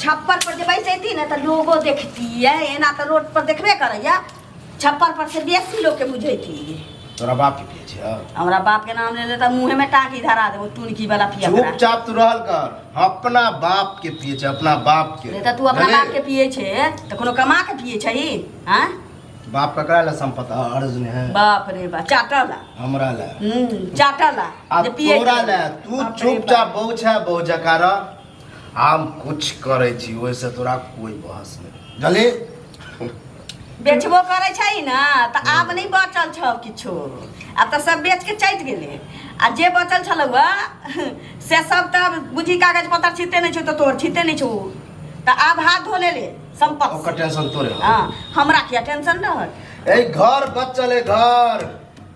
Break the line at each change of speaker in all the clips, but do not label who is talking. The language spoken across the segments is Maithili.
छप्पर पर जे बैसैती ने तऽ लोगो देखतियै एना तऽ रोड पर देखबे करैया छप्पर पर से बेसी लोग के बुझैती तोरा बाप के
पिए छिया हमरा बाप के नाम ले
ले तऽ मुँहे में टाँकी धरा देबो टुनकी वाला पिया करा। चुपचाप तू रहल कर
अपना बाप के पिए छै अपना बाप के नहि तऽ तू अपना बाप के पिए
छे तऽ कोनो कमा के पिए छही हाँ बाप ककरा
ले संपत्ति अर्ज ने है बाप रे बाप
चाटला हमरा ले हम्म,
चाटला
आ जे पिए तोरा
छे। ले तू बाप रे चुपचाप बाप। बहु छै बहु जकारा हम कुछ करे छी ओहि से तोरा कोई बहस नहीं जले
बेचबो करै छै ने तऽ आब नहि बचल छौ किछो आब तऽ सब बेच के चलि गेलै आ जे बचल छलौ हँ से सब तऽ बुझी कागज पत्तर छिते नहि छौ तऽ तोहर छिते नहि छौ तऽ आब हाथ धो ले ले संपत्ति ओकर टेंशन तोरे
हँ हमरा किया
टेंशन रहत ए घर बचल
ए घर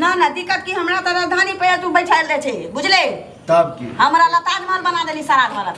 ना ना दिक्कत की
हमरा त राजधानी पे तू बैठल रहे छे बुझले तब की हमरा
ला ताजमहल बना
देली सारा घर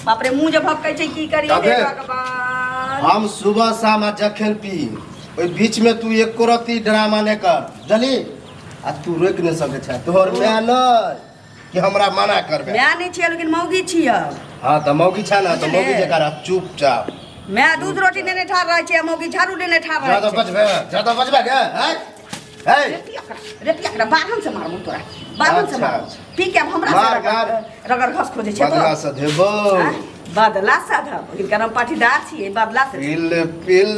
बाप रे मुंह जे भपकै छै की करी तबे। हे भगवान हम सुबह
शाम आ जखन पी ओहि बीच में तू एको रत्ती ड्रामा नहि कर जली आ तू रोकि नहि सकै छै तोहर माय नहि कि हमरा मना करबे माय नहीं छियै लेकिन मौगी
छियै हां त मौगी
छ ना त मौगी जे कर चुपचाप मैं दूध
रोटी देने ठार रहे छियै मौगी झाड़ू देने ठार रहे ज्यादा बचबे ज्यादा बचबे
के हैं हे
रे पिया कर बाहन से मारबो तोरा बाहन से अच्छा, मार अच्छा। पी के अब हमरा मार, मार। से रगड़ घस खोजे छै बदला से देबो
बदला
साधब इनका नाम पाटीदार छियै बदला से पिल पिल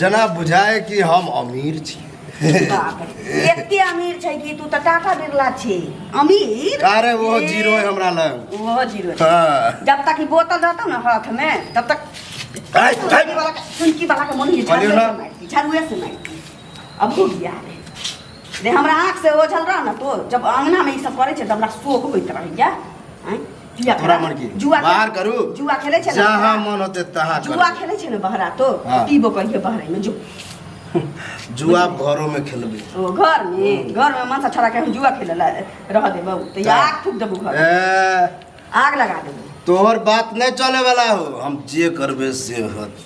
जना बुझाए कि हम अमीर छी
बाप रे, एते अमीर छै कि तू तऽ टाका बिरला छी अमीर अरे वो ए, जीरो
है हमरा लग ओहो जीरो छै।
हाँ। जब तक ई
बोतल
रहतौ ने हाथ में तब तक आय, सुनकी आय। वाला के- सुनकी वाला के मन ये झाड़ुए बोलियो से ना। मारती झाड़ुए से मारती अब हो गया रे रे हमरा आँख से ओझल रह ना तो जब अंगना में ई सब करे छै तऽ हमरा शोक होइत रहैया आँय जुआ तोरा खेला- मन की जुआ खेला-
बाहर करू
जुआ खेले
छै ने जहाँ बहरा?
मन होते तहाँ
जुआ करू खेले छै ने बहरा
तो हाँ। पीबो कहिए बहरे में जो
जुआ आप घरों में खेलबे ओ घर में
घर में मन से छोड़ा के हम जुआ खेले ला रह देबो तो या आग फूक देबो घर ए, आग लगा देबो तोहर बात नहीं
चले वाला हो हम जे करबे से होत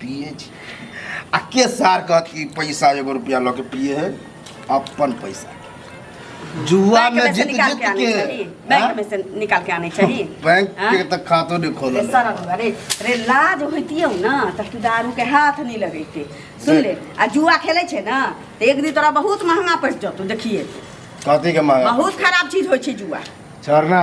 पिए छी आ के सार कहत कि पैसा एगो रुपया लऽ के पिए है अपन पैसा जुआ बैंक में में से जीत निकाल जीत के आने के चाहिए बैंक हाँ? में से
निकाल के आने चाहिए बैंक हाँ? के तक
खातो नहीं खोलल रे है। सरल हुआ रे
रे लाज होइतियौ ना त तू दारू के हाथ नहीं लगैते सुन ले आ जुआ खेले छे ना त एक दिन तोरा बहुत महंगा पड़ जतौ देखिए कथी के मांगा
बहुत खराब चीज होइ छै
जुआ छोड़ना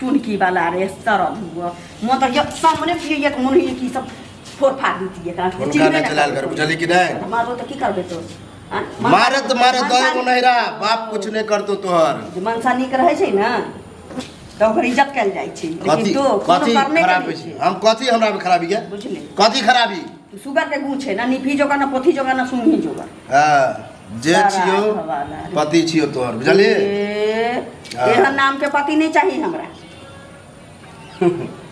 टुनकी वाला रे तरल हुआ मोर त ये सामने भी ये मन होइए कि सब फोड़ फाड़ देती
एकरा के।
हुनका चिन्हबे
ना ना
चलाल कर करबै।
बुझली
कि
नहीं तऽ
मारबो
तऽ की
करबै तो आँ?
मारत मारत मनसा- दो गो नहिरा बाप कुछ नहीं करतो तोहर जे मनसा नीक रहै छै
ने तऽ ओकर इज्जत कयल जाइ छै कथी लेकिन तो कोनो कथी कर नहि खराब करै
छै छै हम कथी हमरा में खराबी है बुझली कथी खराबी सुगर के गुण
छै ने निफी जोगा ने पोथी जोगा ने सुनही जोगा हाँ जे
छियो पति छियो तोहर बुझलिए हाँ।
एहन नाम के पति नहीं चाहिए हमरा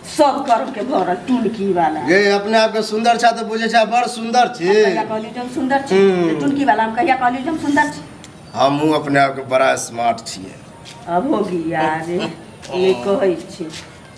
सब कर्म के भरल टुनकी वाला ये अपने आप के
सुंदर छा तो बुझे छा बड़ सुंदर छी कहिया कहली जम सुंदर
छी हम्म। तो टुनकी वाला हम कहिया कहली जम सुंदर छी हमहू अपने आप
के बड़ा स्मार्ट छिए अब हो
गया रे ये कहै छी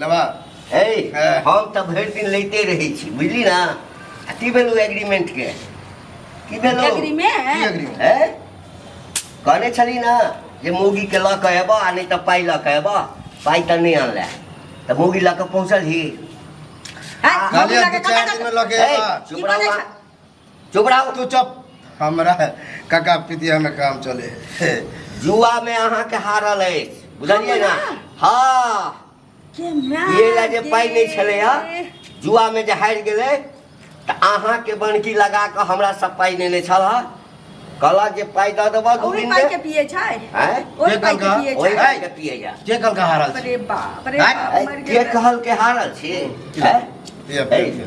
लेबा
हे हँ। हम तऽ भरि दिन लैते रहै छी बुझली ना आ की भेलौ एग्रीमेंट के की भेलौ की एग्रीमेंट एग्रीमेंट हे कहने छली ना जे मौगी के लऽ कऽ एबऽ आ नहि तऽ पाइ लऽ कऽ एबऽ पाइ तऽ नहि अनले तऽ मौगी लऽ कऽ पहुँचल ही हैं,
कहलियै मौगी लगे दू चारि कतऽ- दिन में लगे हे, एबा चुप की रहू बजै बा। छै? चुप
रहो तू चुप हमरा
काका पितिया में काम चले हे जुआ
में अहाँ के हारल है बुझलिए ना हाँ ये ला जे पाई नहीं छले हा जुआ में जे हार गेले त अहाँ के बनकी लगा के हमरा सब पाई नहीं ले छल हा कहला जे पाई द देबा दू ओही दिन पाई के में पिए छै हैं
ओही पाई
के पिए
ओही छै पाई के पिए जा के
कल का हारल छी? अरे
बाप रे हैं? बाप
मर के गेल कहल के हारल
छी हैं पिया, पिया, ए, पिया।